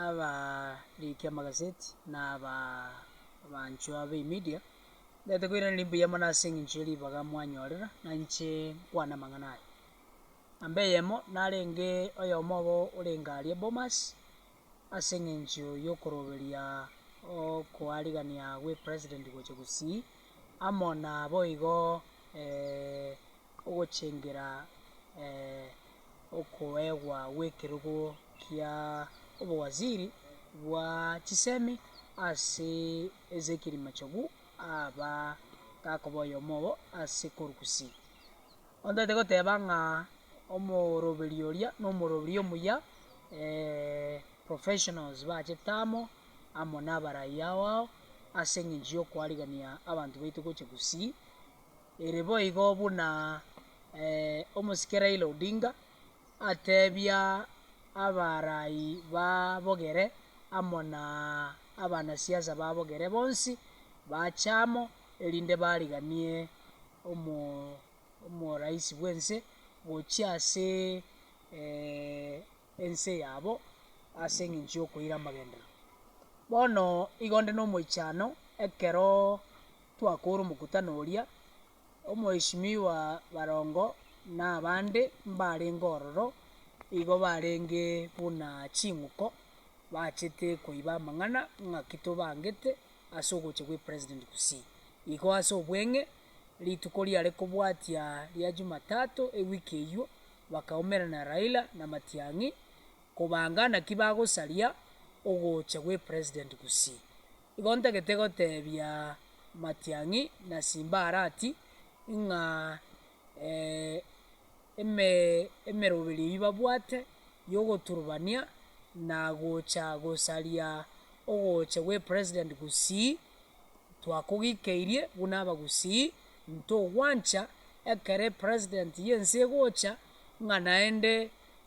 Abariki amagazeti na abanchwa b'emedia, mbete koiraneria mbuya mono ase engencho ye ribaga mwanyorera, na inche nkwane amang'ana aya. Namba eyemo, narenge oyomo obo orenge aria Bomas, ase engencho y'okoroberia okoarigania gw'e president gocha gosii, amo nabo igo. ogochengera okoegwa gw'ekerogo kia obowaziri bwa chisemi ase Ezekieli Machogu aba gakoba oyomo obo ase korwa gusii. Ontaete goteba ng'a omoroberi oria na omoroberi omuya professionals bachete amo, amo na abaraia ao ao ase eng'encho yokoarigania abanto baito gocha gusii. Ere boigo buna omosike Raila Odinga atebia abarai ba Bogere amo na abanasiasa ba Bogere bonsi bache amo erinde bariganie omoraisi bw'ense gochia ase ense yabo ase eng'encho y'okoira amagenderero. Bono igo nde nomoichano ekero. Twakoora omokutano oria, omoeshimiwa barongo na abande mbarenge ororo igo barenge buna ching'uko bachete koiba amang'ana ng'aki tobangete ase ogocha gwe President gusii igo ase obweng'e rituko riare kobwatia ria Jumatatu ewiki eyio bakaumerana Raila na Matiang'i kobanga naki bagosaria ogocha gwe President gusii. Igo ntagete goteebia Matiang'i na Simbarati ng'a emeroberio eyio babwate y'ogoturubania na gocha gosaria ogocha gw'epresident Gusii twakogikeirie buna Abagusii, ntogwancha ekero epresident y'ense egocha ng'a naende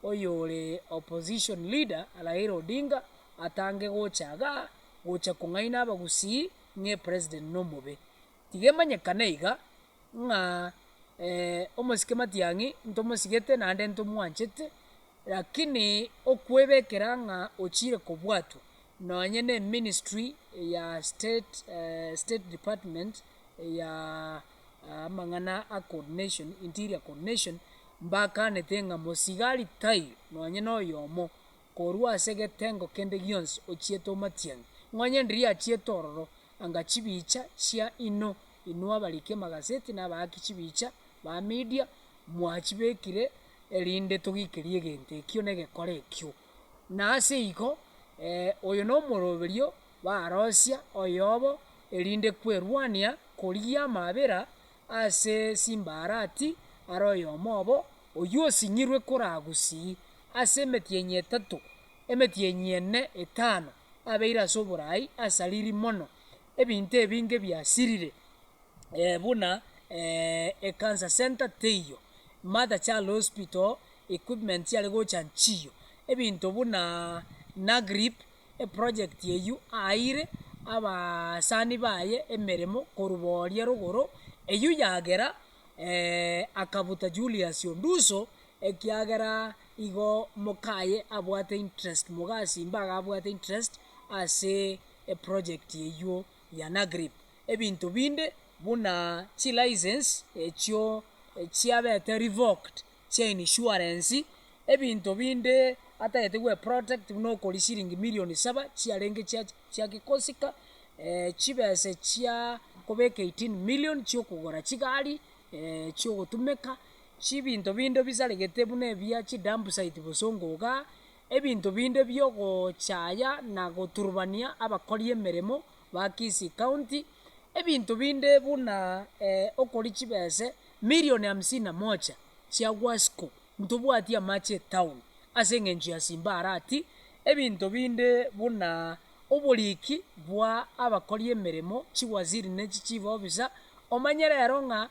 oyore opposition leader Raila Odinga atange gocha igaa. gocha kong'aina abagusii ng'e president nomobe. Tiga emanyekane iga, ng'a eh, omosike matiang'i ntomosigete naende ntomwanchete, rakini okwebekera ng'a ochire kobwatwa nonye ne ministry ya state eh, state department ya amang'ana a coordination, interior coordination, mbakanete ng'a mosiga aritaywe nonye noyomo. korwa ase egetengo kende gionsi ochiete omatiang'i, ng'onye ndiria achiete ororo, anga chibicha chia inwe, inwe abariki amagaseti na abaaki chibicha ba media, mwachibekire erinde togiikerie egento ekio na egekora ekio. Na ase igo, oyo na omoroberio baarosia oyobo, erinde kwerwania korigia amaabera. Ase chimbarati are oyomo obo, oyio osing'irwe koragusii, ase emetienyi etato, emetienyi ene etano abeire ase oborai asariri mono, ebinto ebinge biasirire buna ecancer centre teiyo, mother child hospital equipment chiare gocha nchiyo, ebinto buna nagrip Eprojekti eyio aeire abasani baye emeremo korwa boria rogoro eyio yagera akabuta Julius Onduso ekiagera igo mokaye abwate interest mogasi mbaga abwate interest ase eprojekti eyio ya Nagrip. Ebinto binde buna chilicense echio chiabete revoked chia inishuarensi, ebinto binde atagete gweprotect buna okori siringi milioni saba chiarenge chia chia gikosika, chibesa chia kobeka eighteen million chia okogora chigari chia ogotumeka, chibinto binde bisaregete buna ebia chidampsite bosongo igaa, ebinto binde bia ogochaya na goturbania abakori emeremo ba Kisii county, ebinto binde buna okori chibese. Milioni hamsini na mocha chia Guasco ntobwati amache etaoni ase engencho ya Simba Arati, ebinto binde buna oboriki bwa abakori emeremo, chiwaziri ne chichief officer, omanye rero ng'a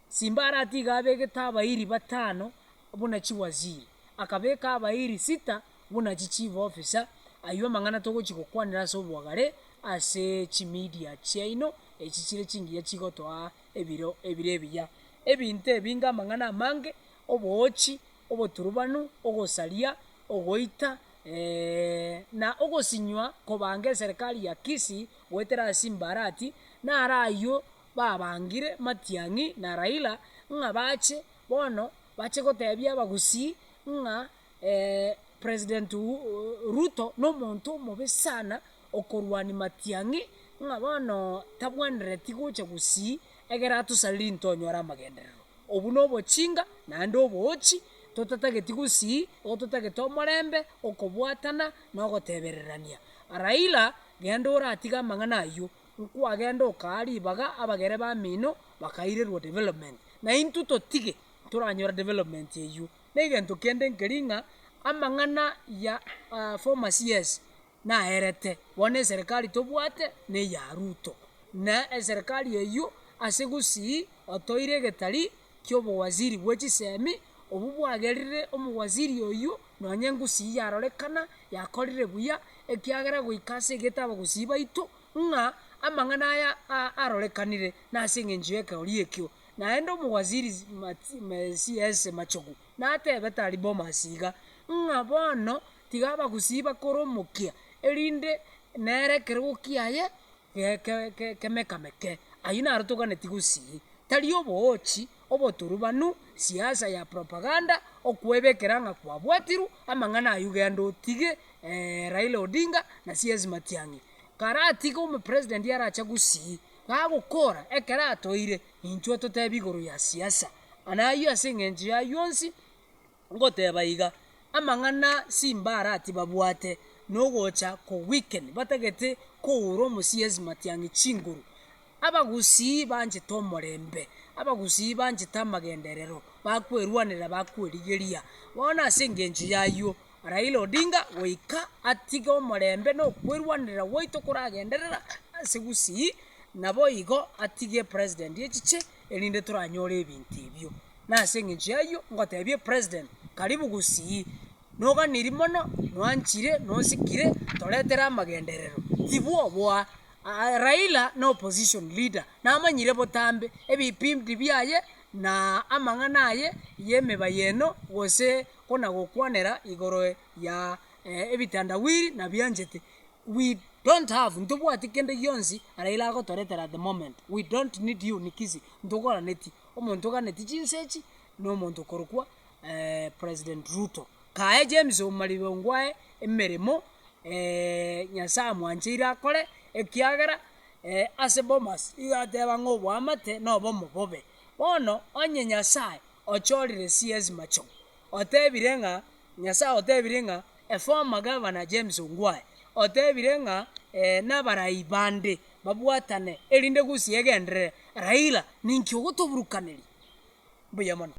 Simba Arati iga abegete abairi batano buna chiwaziri, akabeka abairi sita buna chichief officer, ayio amang'ana togochi gokwanera ase obwagare ase chimedia chiaino echi chire chingiya chigotoa ebiro ebire ebiya. Ebinto ebi ngamang'ana amange, oboochi, oboturubanu, ogosaria, ogoita, eeh, na ogosinywa kobanga eserekari ya Kisi goetera ase Mbarati, naro ayio babangire Matiang'i na Raila ng'a bache bono bache gotebia abagusii ng'a President Ruto nomonto omobe sana okorwania matiang'i ng'a bono tabwenereti gocha gusii egere atosareri intwe onyore amagenderero. Obwo nobochinga naende oboochi totatageti gusii igo totagete omorembe, okobwatana na ogotebererania. Raila genda oratige amang'ana aywo nkwagenda okaa ribaga abagere bamino bakairirwa development naintwe totige toranyore development eywo. negento kende nkeri ng'a amang'ana ya former CS naerete bono eserekari tobwate neya Ruto na eserekari eywo ase gusii otoire egetari kiobowaziri bwe chisemi obwo bwagerire omowaziri oywo nonye ngusii yarorekana yakorire buya ekiagera goika ase egete abagusii baito ng'a amang'ana aya arorekanire nase eng'encho yekegoria ekio. Naende omowaziri Siese machogu natebe tari Bomas iga, ng'a bono tiga abagusiba kore omokia, erinde nere ekerogo kiaye kemekameke. Ayio naro toganetie gosii, tari oboochi, oboturubanu, siasa ya propaganda, okwebekera ng'a kwabwatirwe amang'ana ayio genda otige Raila Odinga na Sies Matiang'i. Karatige omopresident arache gusii. Nagokoora ekero atoire, inchwe totebi igoro ya siasa, na ayio ase engencho y'ayio onsi ngoteba iga, amang'ana Simba arati babwate nogocha ko weaken batagete koura omosiesi Matiang'i chinguru. Abagusii banchete omorembe, abagusii banchete amagenderero, bakwerwanera bakwerigeria, bono ase engencho y'ayio. Raila Odinga goika atige omorembe na okwerwanerera gwaito koragenderera ase Gusii naboigo atige President echiche erinde toranyore ebinto ebio nase engencho y'ayio ngotebie President karibu Gusii noganiri mono nwanchire nosikire toretere amagenderero tibwo oboa Raila na opposition leader namanyire botambe ebipindi biaye na amang'ana aye y'emebayeno gose konagokwanera igoro ya ebitandawiri nabianchete we don't have ntobwati kende gionsi Raila agotoretera at the moment we don't need you nikisi ntogoraneti omonto oganeti chinse echi na omonto okorokwa president Ruto kaye James omaribe ongwae emeremo nyasaye amwancheire akore ekiagera ase bomas iga ateba ng'a oboamate na obomo bobe bono onye nyasaye. ochorire CS Macho, otebire ng'a Nyasae otebire ng'a a former governor James Ongwae otebire ng'a eeh nabarai bande babwatane erinde gusii egenderere Raila ninki ogotoburukaneria? Mbuya mono.